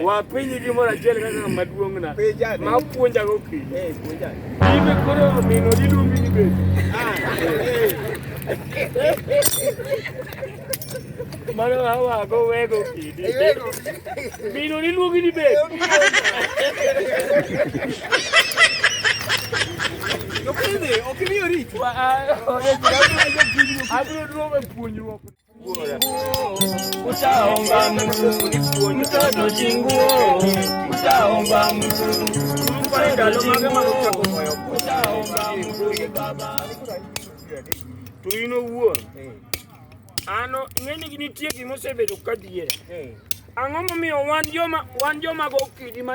Wa penji gi moro achiel kaka ng'ama duong' na ma puonja go kiny. Ibe koro mino iluongi ni bende. Mano awago wego kidi. Mino iluongi ni bende. Yo creo que, o que me ahorita. Abro o nome, punho. Utaomba Mungu mtoto chinguo, utaomba Mungu mtoto chinguo, utaomba Mungu baba. Tuino wuo. Ano ng'eni gini tie gimosebedo ka diere. Ang'o momiyo wan joma wan joma go kidi ma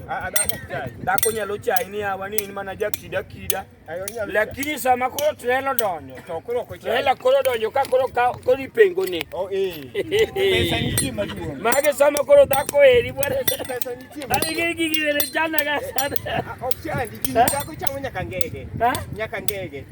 Dhako nyalo chai ni awa ni in mana jakida kida. Lakini sama koro trelo donjo. To koro ko chai. Trela koro donjo ka koro ka koro ipengo ni. Oh eh. Pesa ni chi maduong. Mage sama koro dhako eri bwana. Pesa ni chi. Ani gi gi gi ne jana ga sana. Ok chai, dhako chamo nyaka ngege. Nyaka ngege.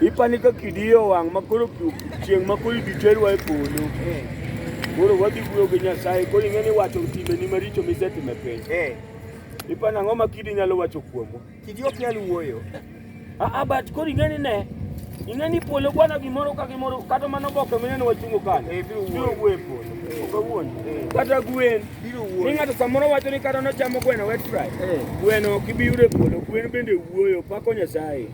Ipani ka kidiyo wang' ma koro chieng' ma koro ibiterwa e polo. Koro wadhi wuoyo gi Nyasaye, koro ing'e ni wacho timbeni maricho misetimo e piny. Ipani ang'o ma kidi nyalo wacho kuomwa? Kidi ok nyal wuoyo. Aa, but koro ing'e ni ne, ing'e ni polo bwana gimoro ka gimoro kata mana oboke mineno wachungo kano. Eh, biro wuoyo. Biro wuoyo e polo. Ok awuon. Kata gwen. Biro wuoyo. Ni ng'ato samoro wacho ni kata nochamo gweno wet fry. Gweno ok ibi yudo e polo. Gwen bende wuoyo, pako Nyasaye.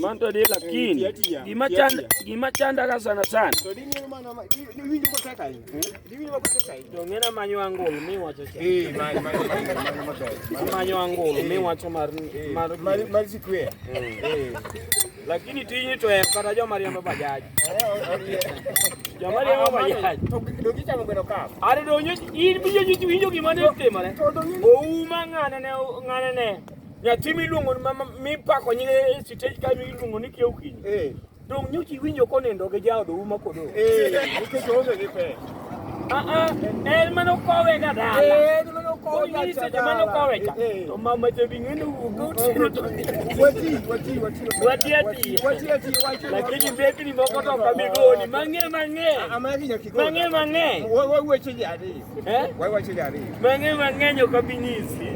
Manto de lakini gima chanda gima chanda ka sana sana. To dini ma na winjo ko teka yi. Dini ma ko teka yi. To ngena manyo angol mi wacho cha. Eh ma ma ma ma manyo angol mi wacho mar mar mar mar sikwe. Eh. Lakini tini to en kata jo mariambo bajaji. Eh, Joma riambo bajaji. To do gicha mo gweno ka. Are do nyo in bijo nyo winjo gima ne timore. Ouma ngane ne ngane ne. Nyathi miluongo mipako nyinge e sitej ka miluongo ni kiew kiny. Eh. Dong nyuchi winjo konindo gi jaodo uma kodo. Eh. Nikech oonge gi pe. Ah ah, en mano kowe ga dala. Eh, en mano kowe ga dala. Ni mano kowe ka. Eh. To mama je bi ngene wugo tiro to. Wati, wati, wati. Wati ati. Wati ati, wati. Lakini mbeki ni moko to kamigoni. Mang'e mang'e. Ah, ah mang'e nyakigoni. Mang'e mang'e. Wewe wewe chini adi. Eh? Wai wache jari. Mang'e mang'eny ok abi nyisi.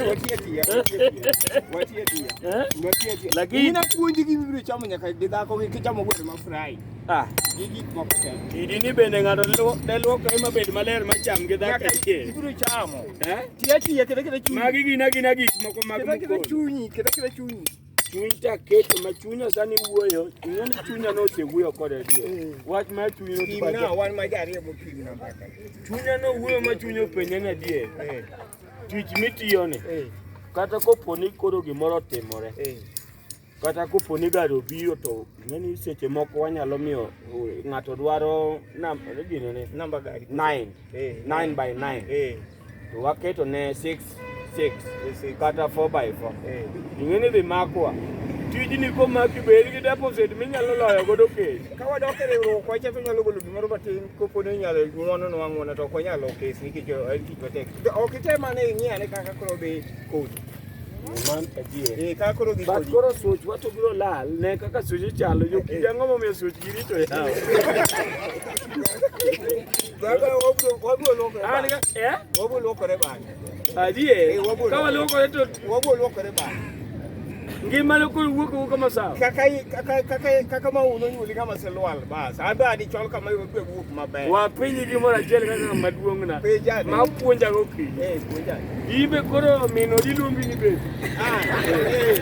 Watie tia. Watie tia. Eh? Watie tia. Lakini ina puonji gi bibiro chamo nyaka gi dhako gi chamo gweno ma fry. Ah, gi gik moko te. Idi ni bende ng'ato ne luoko ema bed maler ma cham gi dhako tie. Bibiro chamo. Eh? Tia tia kete kete chunyi. Magi gina gina gik moko mag mkol. Kete kete chunyi, kete kete chunyi. chuny ta keto ma chunya sani wuoyo chunya ni chunya no osewuoyo kod adier eh. wach ma chuny no tim na wan ma jariyo mo tim na mbaka chunya no wuoyo ma chunya openye na adier eh. tich mitiyo ni eh. kata kopo ni koro gimoro otimore kata kopo ni gari obiro to ng'eni seche moko wanyalo miyo ng'ato dwaro namba gini ni namba gari 9 9 by 9 to waketo ne 6 6 kata 4 by 4 eh. ing'e ni dhi makwa tijni komaki bed gi deposit minyalo loyo godo kesi ka wadok e riwruok wacha to nyalo golo gimoro matin kopo ni inyalo ng'wono nwa ng'wono to ok wanyalo kes nikech en tich matek ok item ane ing'i ane kaka koro dhi kodi man adier eh kaka koro dhi kodi but koro switch wato biro lal ne kaka switch chalo jo eh, eh. kijang'o momiyo switch girito yawo ngima ne koro wuok wuok kama sawa kaka kaka kaka kaka ma uno nyuli kama se lwal bas ando adi chol kama yo pe wuok maber wa piny gi mora jel kaka maduong na ma puonja go ki eh puonja ibe koro mino diluongi ni be ah eh